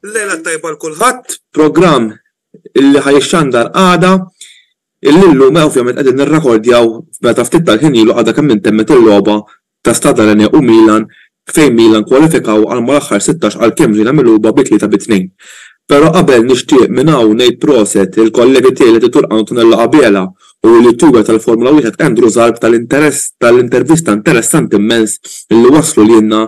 Lejla tajba l-kulħadd, programm illi ħajxxandar għada, illum ovvjament qegħdin nirrakordjaw meta ftit tal-ħin ilu għadha kemm intemmet il-logħba ta' Stade Rennais u Milan fejn Milan kwalifikaw għal mal-aħħar sittax għalkemm ġejna mighluba bi tlieta bi tnejn. Pero qabel nixtieq minn hawn ngħid proset lil kollegi tiegħi li titur Antonello Abela u l-youtuber tal-Formula Wieħed Andrew Zarb tal-intervista interessanti mmens li wasslu lilna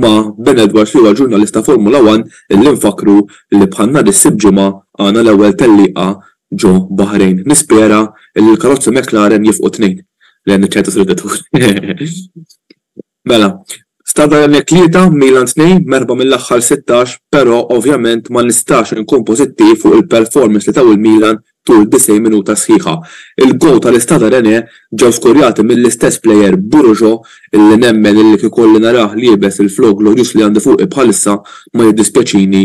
ma' Ben Edwards li huwa ġurnalist ta' Formula One li nfakkru li bħal nhar is-Sibt Ġimgħa għandna l-ewwel tellieqa ġo Baħrejn. Nispera li l-karozzi McLaren jifqu t-Tnejn lejn iċ-ċentru tal-vetturi. Mela, Stade Rennais tlieta, Milan tnejn, merħba mill-aħħar sittax, però ovvjament ma nistax inkun pożittiv fuq il-performance li taw il-Milan tul 90 minuta sħiħa. Il-goal tal-Istade Rennais ġew skurjati mill-istess plejer Burujo illi nemmen illi kieku kolli narah liebes il-flow glorjuż li għandi fuqi bħalissa ma jiddispjaċini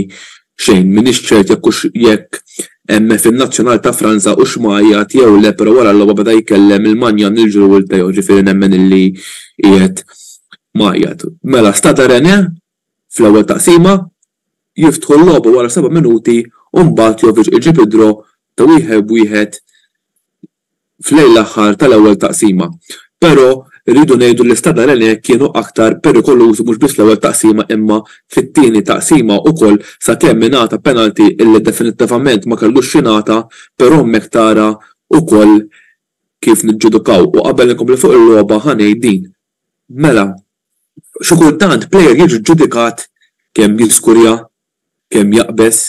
Xejn, m'iniex ċert jekk hux jekk hemmx fin-nazzjonal ta' Franza hux mgħajjat jew le però wara l-logħba beda jkellem il-Magnan, il-Giroud u l-Peyo ġifieri nemmen illi qiegħed mgħajjat. Mela Stade Rennais fl-ewwel taqsima jiftħu l-logħba wara seba' minuti u mbagħad Jovic iġib id-draw ta' wieħed b'wieħed f'lejl l-aħħar tal-ewwel taqsima. Però rridu ngħidu li Stadha Rennè kienu aktar perikolużi mhux biss fl-ewwel taqsima imma fit-tieni taqsima ukoll sakemm ingħata penalty illi definittivament ma kellux jingħata però hemmhekk tara ukoll kif niġġudukaw. U qabel inkompli fuq il-logħba ħa ngħid din. Mela, xi kultant plejer jiġi ġġudikat kemm jiskurja, kemm jaqbeż,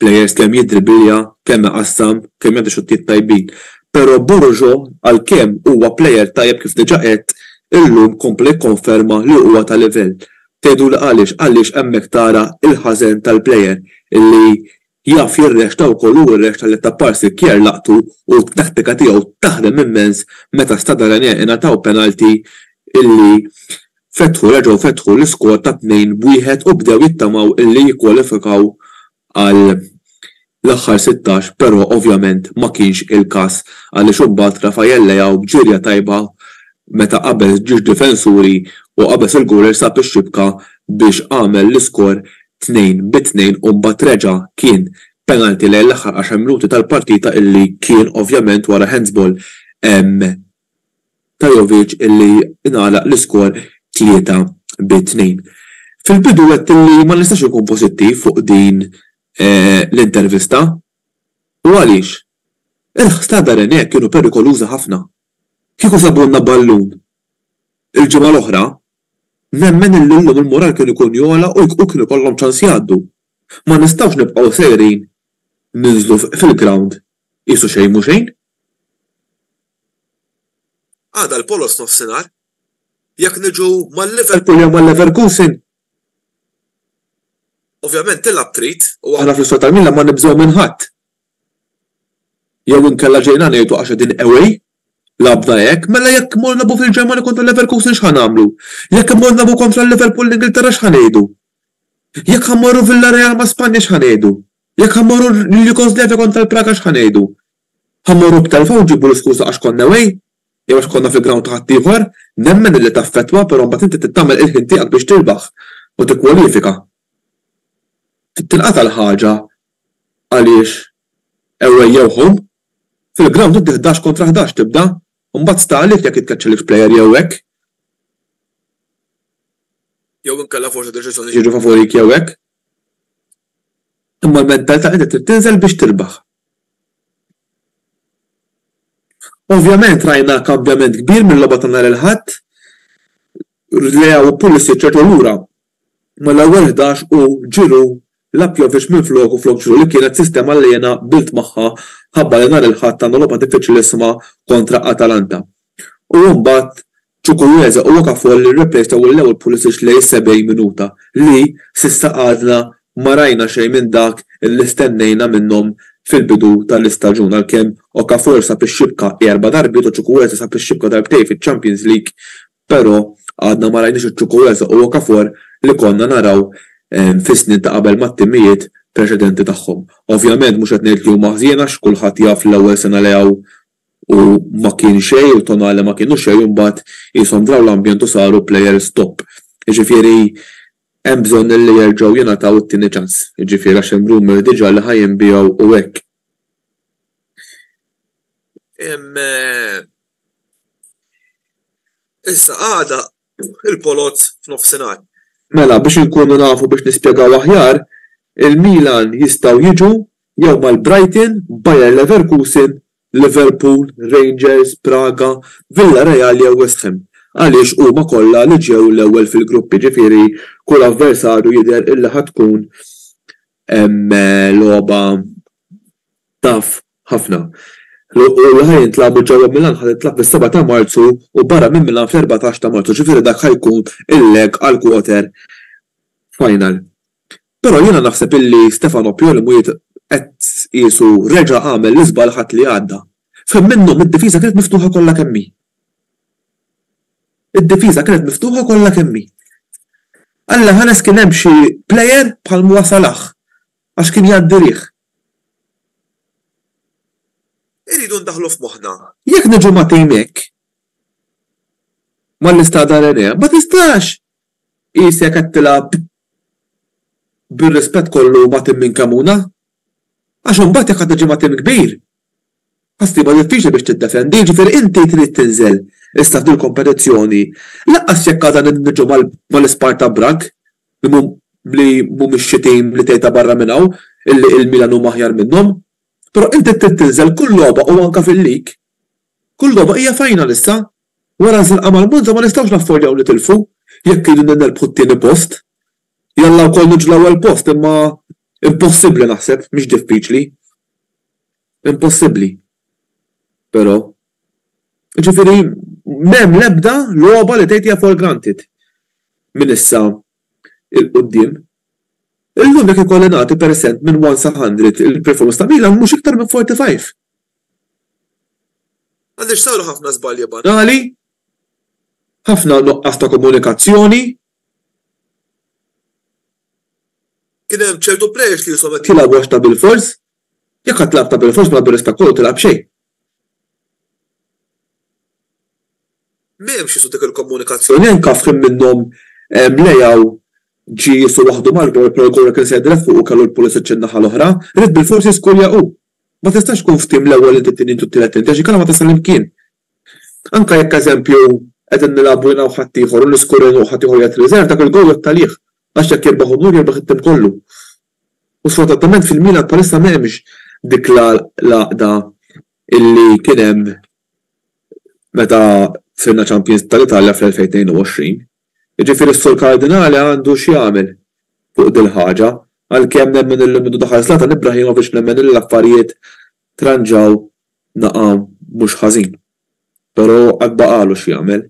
players kemm jiddribilja kemm iqassam kemm jagħti xuttijiet tajbin pero Borujo għalkemm huwa player tajjeb kif diġa għedt illum kompla jikkonferma li huwa ta' livell tgħiduli għaliex għaliex hemmhekk tara il-ħażen tal-player illi jaf jirrexta wkoll u rrexta lil Tappar Sikkjer laqtu u t-tattika tiegħu taħdem immens meta Stade Rennais ingħataw penalty illi Fetħu, reġgħu fetħu l-iskor ta' tnejn b'wieħed u bdew jittamaw illi jikkwalifikaw għall-aħħar sittax però ovvjament ma kienx il-każ għaliex imbagħad Rafael Leao b'ġirja tajba meta qabeż ġiex difensuri u qabeż il-gowler sab ix-xibka biex għamel l-iskor tnejn bi tnejn u mbagħad reġa' kien penalty lejn l-aħħar għaxar minuti tal-partita illi kien ovvjament wara handsball ta' Jovic li ngħalaq l-iskor 3 bi 2. Fil-bidu għedt li ma nistax inkun pożittiv fuq din l-intervista. U għaliex? Il-ħsar ta' Rennes kienu perikolużi ħafna. Kieku sabulna ballun il-ġimgħa l-oħra, nemmen li llum il-mural kien ikun jogħla u kien ikollhom ċans jgħaddu. Ma nistgħux nibqgħu sejrin ninżlu fil-grawnd Qisu xejn mhu xejn. Għada l-Poloz nofsinhar. Jekk niġu mal-Liverpool jew mal-Leverkusen, ovvjament tilgħab trid u aħna fl-Isptar tal-Milan ma nibżgħu minn ħadd. Jew inkella ġejna ngħidu għax qegħdin away, lagħbna hekk, mela jekk immorru nilagħbu fil-Ġermanja kontra l-Leverkusen x'ħa nagħmlu? Jekk immorru nilagħbu kontra l-Liverpool l-Ingilterra x'ħa ngħidu? Jekk ħa mmorru Villareal ma' Spanja x'ħa ngħidu? Jekk ħa mmorru lil Jugoslavja kontra l-Praga x'ħa ngħidu? Ħa mmorru b'telfa u nġibu l-iskuża għax konna away? Jew għax konna fil-ground ta' ħaddieħor? Nemmen illi taffettwa però mbagħad inti trid tagħmel il-ħin tiegħek biex tirbaħ u tikkwalifika. Trid tinqata' l-ħaġa għaliex away jew home. Fil-ground inti ħdax kontra ħdax tibda u mbagħad sta għalik jekk jitkeċċelekx player jew hekk. Jew inkella forsi deċiżjonijiet jiġu favorik jew hekk. Imma l-mentalità qiegħda trid tinżel biex tirbaħ. Ovvjament rajna kambjament kbir mil-logħba ta' nhar il-Ħadd, Leao u Pulisic reġgħu lura, imma l-ewwel ħdax u Giroud lagħab Jovic minfloku flok Giroud li kienet sistema li jiena qbilt magħha mħabba li nhar il-Ħadd għandna logħba diffiċilisima kontra Atalanta. U mbagħad Chukwueze u Okafor li rreplejstaw il-ewwel Pulisic lejn is-70 minuta li, s'issa għadna ma rajna xejn minn dak li stennejna minnhom fil-bidu tal-istaġun għalkemm Okafor sab ix-xibka erba' darbiet u Chukwueze sab ix-xibka darbtejn fiċ-Champions League però għadna ma rajniex iċ-Chukwueze u Okafor li konna naraw fis-snin ta' qabel mat-timijiet preċedenti tagħhom. Ovvjament mhux qed ngħid li huma ħżiena għax kulħadd jaf l-ewwel sena li hawn u ma kien xejn u Tonali ma kienu xejn u mbagħad qishom draw l-ambjent u saru players top. Jiġifieri hemm bżonn li jerġgħu jingħataw it-tieni ċans. Jiġifieri għax hemm rumour diġà li ħa jinbiegħu u hekk. Issa għada il-Polozz f'nofsinhar. Mela biex inkunu nafu biex nispjegaw aħjar, il-Milan jistgħu jiġu Jew mal-Brighton, Bayer Leverkusen, Liverpool, Rangers, Praga, Villareal jew West Ham għaliex huma kollha li ġew l-ewwel fil-grupp jiġifieri kull avversarju jidher illi ħa tkun logħba tough ħafna. U li ħa jintlagħbu ġewwa Milan ħa tintlagħab fis-seba' ta' Marzu u barra minn Milan fl-erbatax ta' Marzu ġifieri dak ħa jkun il-leg għall-quarter final. Però jiena naħseb illi Stefano Pioli mhujiex qed tqiesu reġa' għamel l-iżball l-Ħadd li għadda. F'ħin minnhom id-difiża kienet miftuħa kollha kemm hi. Id-difiża kienet miftuħa kollha kemm hi. Alla ħares kien hemm xi player bħal Moa Salah għax kien jgħaddi riħ. Irridu ndaħħlu f'moħħna. Jekk niġu magħtin hekk mal-Istade Arenea ma tistax Qisek qed tilgħab bir-rispett kollu ma' tim minn Cremona għax imbagħad jekk għad tiġi ma' tim kbir ħa ssibha diffiċli biex tiddefendi, jiġifieri inti trid tinżel issa f'dil-kompetizzjoni lanqas jekk għada niġu mal-Isparta Bragg li mhumiex xi tim li tgħid ta' barra minn hawn illi il-Milan huma aħjar minnhom. Però inti trid tinżel kull logħba u anke fil-League. Kull logħba hija final issa Wara l-firqa mal-Monza ma nistgħux naffordjaw nitilfu jekk irridu nerbħu t-tieni post. Jalla wkoll niġu l-ewwel post imma impossibbli naħseb, mhix diffiċli. Impossibbli. Però. Jiġifieri m'hemm l-ebda logħba li tgħid hija for granted minn issa 'l quddiem. Illum jekk ikolli nagħti persent minn one sa hundred il-performance ta' Milan mhux iktar minn forty five. Għaliex saru ħafna żbalji banali, ħafna nuqqas ta' komunikazzjoni, kien hemm ċertu plejers li qishom qed jilgħabu għax ta' bilfors, jekk għad tilgħab ta' bilfors mela b'rispett kollu tilgħab xejn. M'hemmx qisu dik il-komunikazzjoni anke f'ħin minnhom Leao ġie qisu waħdu mal-goal però l-goal kien se jidher fuqu kellu l-Pulisic in-naħa l-oħra, ried bilfors jiskurja hu Ma tistax tkun f'tim l-ewwel int it-tieni int u t-tielet int għax inkella ma tasal imkien. Anke jekk eżempju qegħdin nilagħbu jiena u ħaddieħor u niskur għin u ħaddieħor jgħid riserv dak il-gowl jgħodd għalih għax jekk jirbaħ Unur jirbaħ it-tim kollu. U sfortunatament fil-Milan bħalissa m'hemmx dik l-għaqda illi kien hemm meta f'inna Champions tal-Italja fl-2022. Jiġifieri s-Sur Kardinali għandu x'jagħmel fuq dil-ħaġa, għalkemm nemmen illi mindu daħal Zlatan Ibrahimovic nemmen illi l-affarijiet tranġaw naqa' mhux ħażin. Però għad baqagħlu x'jagħmel.